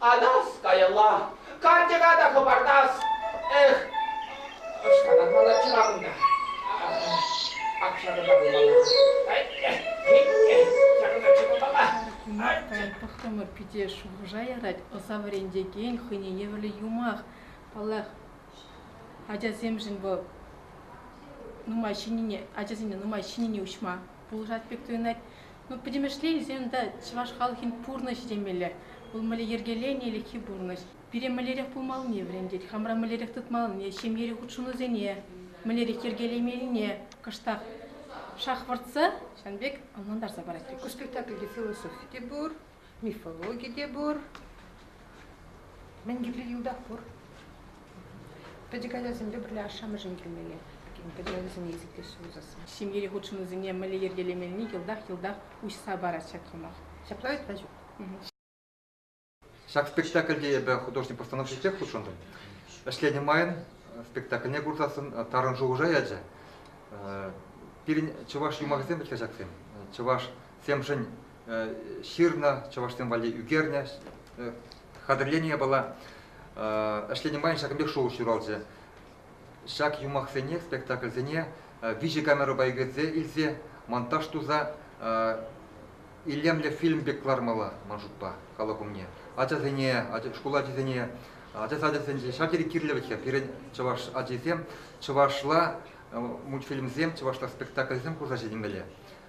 Анас каялла, карчӑка та хӑпартас. Эх, ӑшкӑнатмалла чура кунта. Ак-ҫакӑнта пулмалла. Ҫакӑнта чупмалла. Кунакай, тӑхтӑмӑр пите, шухӑша ярать ӑса вӗрентекен хӑйне евӗрлӗ юмах. Паллах, ачасемшӗн вӑл нумай ҫӗннине, ачасене нумай ҫӗннине уҫма. пулӑшать пек туйӑнать. Ну, пӗтӗмӗшле илсен унта чӑваш халӑхӗн пурнӑҫӗ темелле. Вӑл мӗнле йӗркеленӗ ӗлӗкхи пурнӑҫ. Пире мӗнлерех пулмаллине вӗрентет, хамра мӗнлерех тытмаллине, ҫемьери хутшӑнусене мӗнлерех йӗркелемеллине кӑштах шахвӑртса, ҫавӑн пек ӑнлантарса парать. Ку спектакльте философи те пур, Мифологи те пур. Мӗн кирлӗ йӑлтах пур. Пӗчӗк ачасемпе пӗрле ашшӗ-амӑшӗн килмелле. Пӗчӗк ачасене есеплеҫҫӗ пулсассӑн. Ҫемьери хутшӑнусене мӗнле йӗркелемелли йӑлтах-йӑлтах уҫса парать ҫак юмах. Ҫапла вӗт-ха ҫук. Ҫак спектакльте эпӗ художник постановки ҫитсех хутшӑнтӑм. Ӗҫленӗ майӑн спектакльне курсассӑн тарӑн шухӑша ячӗ. Пирӗн чӑваш юмахӗсем вӗт-ха ҫаксем. Чӑвашсемшӗн ҫырнӑ, чӑвашсем валли ӳкернӗ. Хатӗрленӗ япала ӗҫленӗ майӑн ҫакӑн пек шухӑш ҫуралчӗ. Ҫак юмахсене, спектакльсене виҫӗ камерӑпа ӳкерсе илсе монтаж туса илемлӗ фильм пек кӑлармалла ман шутпа халӑх умне. Ачасене, шкул ачисене, ача сачӗсенче ҫав тери кирлӗлӗхе пирӗн чӑваш ачисем чӑвашла мультфильмсем, чӑвашла спектакльсем курса ҫитӗнмелле.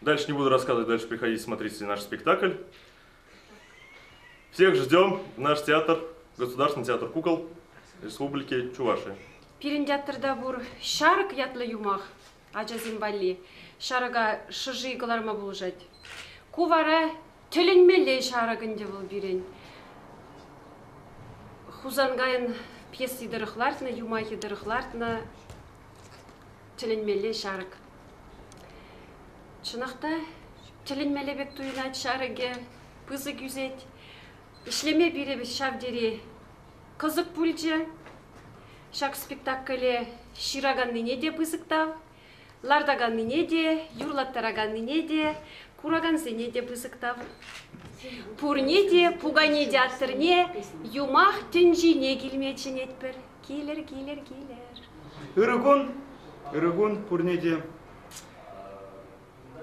Дальше не буду рассказывать, дальше приходите смотреть наш спектакль. Всех ждем в наш театр, Государственный театр кукол Республики Чувашия. Пирӗн театрта пур ҫарӑк ятлӑ юмах ачасем валли. Ҫарӑка шӑши кӑларма пулӑшать. Ку вара тӗлӗнмелле ҫарӑк ӗнтӗ вӑл пирӗн. Хусанкайӑн пьеси тӑрӑх лартнӑ, юмахӗ тӑрӑх лартнӑ. Тӗлӗнмелле ҫарӑк. Чӑнах та тӗлӗнмелле пек туйӑнать ҫарӑкӗ, пысӑк ӳсет. Ӗҫлеме пирӗн ҫав тери кӑсӑк пулчӗ. Ҫак спектакле ҫыраканнине те пысӑк тав, лартаканнине те, юрлаттараканнине те, куракансене те пысӑк тав. Пурне те, пукане театрне юмах тӗнчине килме чӗнетпӗр. Килер, килер, килер. Ырӑ кун, ырӑ кун пурне те.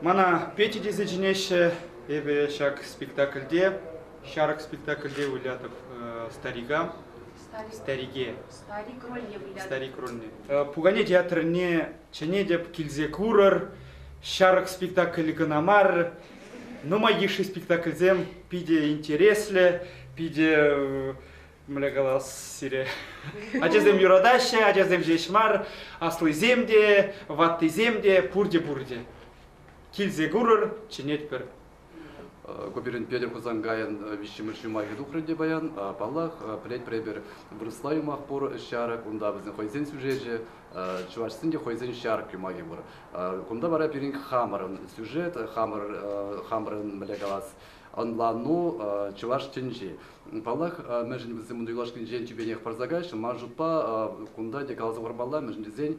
Мана Петя тесе чӗнеҫҫӗ. Эпӗ ҫак спектакльте, ҫарӑк спектакльте вылятӑп э, старика. Старик. Старике. Старик рольне вылятӑп. Старик рольне. Э, Пукане театрне чӗнетӗп, килсе курӑр. Ҫарӑк спектакль кӑна мар. Нумай йышши спектакльсем питӗ интереслӗ, питӗ э, Мӗнле калас сире? Ачасем юратаҫҫӗ, ачасем ҫеҫ мар, аслисем те, ваттисем те, пурте-пурте. Килсе курӑр, чӗнетпӗр. Гопирин Петӗр Хусанкайӑн виҫҫӗмӗш юмахӗ тухрӗ те паян. Паллах, пӗлетпӗр эпир, вырӑсла юмах пур ҫарӑк, унта вӗсен хӑйсен сюжечӗ, чӑвашсен те хӑйсен ҫарӑк юмахӗ пур. Кунта вара пирӗн хамӑрӑн сюжет, хамӑр, хамӑрӑн мӗнле калас, ӑнлану чӑваш тӗнчи. Паллах, мӗншӗн вӗсем ун юлашкинчен тӳпенех парса каҫнӑ, ман шутпа, кунта те каласа хӑвармалла, мӗншӗн тесен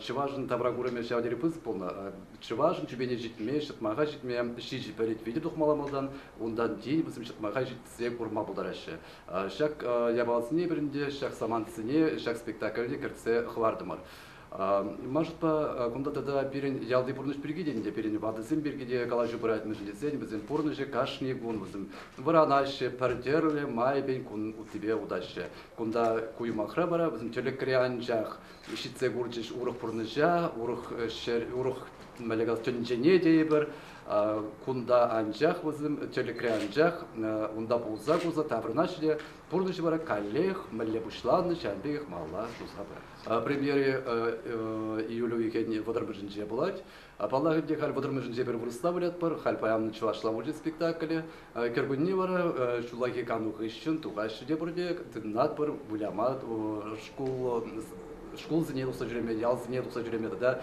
чӑвашӑн тавракурӑмӗ ҫав тери пысӑк пулнӑ. Чӑвашӑн тӳпене ҫитме, ҫӑтмаха ҫитме ҫичӗ пӗрет витӗр тухмалла малтан, унтан тин вӗсем ҫӑтмаха ҫитсе курма пултараҫҫӗ. Ҫак япаласене пирӗн те, ҫак самантсене, ҫак спектакльне кӗртсе хӑвартӑмӑр. Машӑпа кунта тата пирӗн ялти пурнӑҫ пирки те ӗнтӗ, пирӗн ватӑсем пирки те калаҫу пырать, мӗншӗн тесен вӗсен пурнӑҫӗ кашни кун вӗсем вӑранаҫҫӗ, пӗр тӗрлӗ майӗпен кун уттипе утаҫҫӗ. Кунта ку юмахра вара вӗсем тӗлӗкре анчах ҫитсе курчӗҫ урӑх пурнӑҫа, урӑх ҫӗр, урӑх мӗнле калас тӗнчене тейӗпӗр. Кунта анчах вӗсем, тӗлӗкре анчах унта пулса курса таврӑнаҫҫӗ те пурнӑҫ вара каллех мӗнле пуҫланнӑ ҫавӑн пекех малла туса пырать. Премьере июль уйӑхӗн вӑтӑрмӗшӗнче пулать. Паллах ӗнтӗ, халь вӑтӑрмӗшӗнче пӗр вырӑсла вылятпӑр, халь паян чӑвашла вылять спектакле. Кӗркунне вара ҫуллахи кану хыҫҫӑн тухаҫҫӗ те пурте, тытӑнатпӑр, выляма шкул шкулсене тухса ҫӳреме, ялсене тухса ҫӳреме тата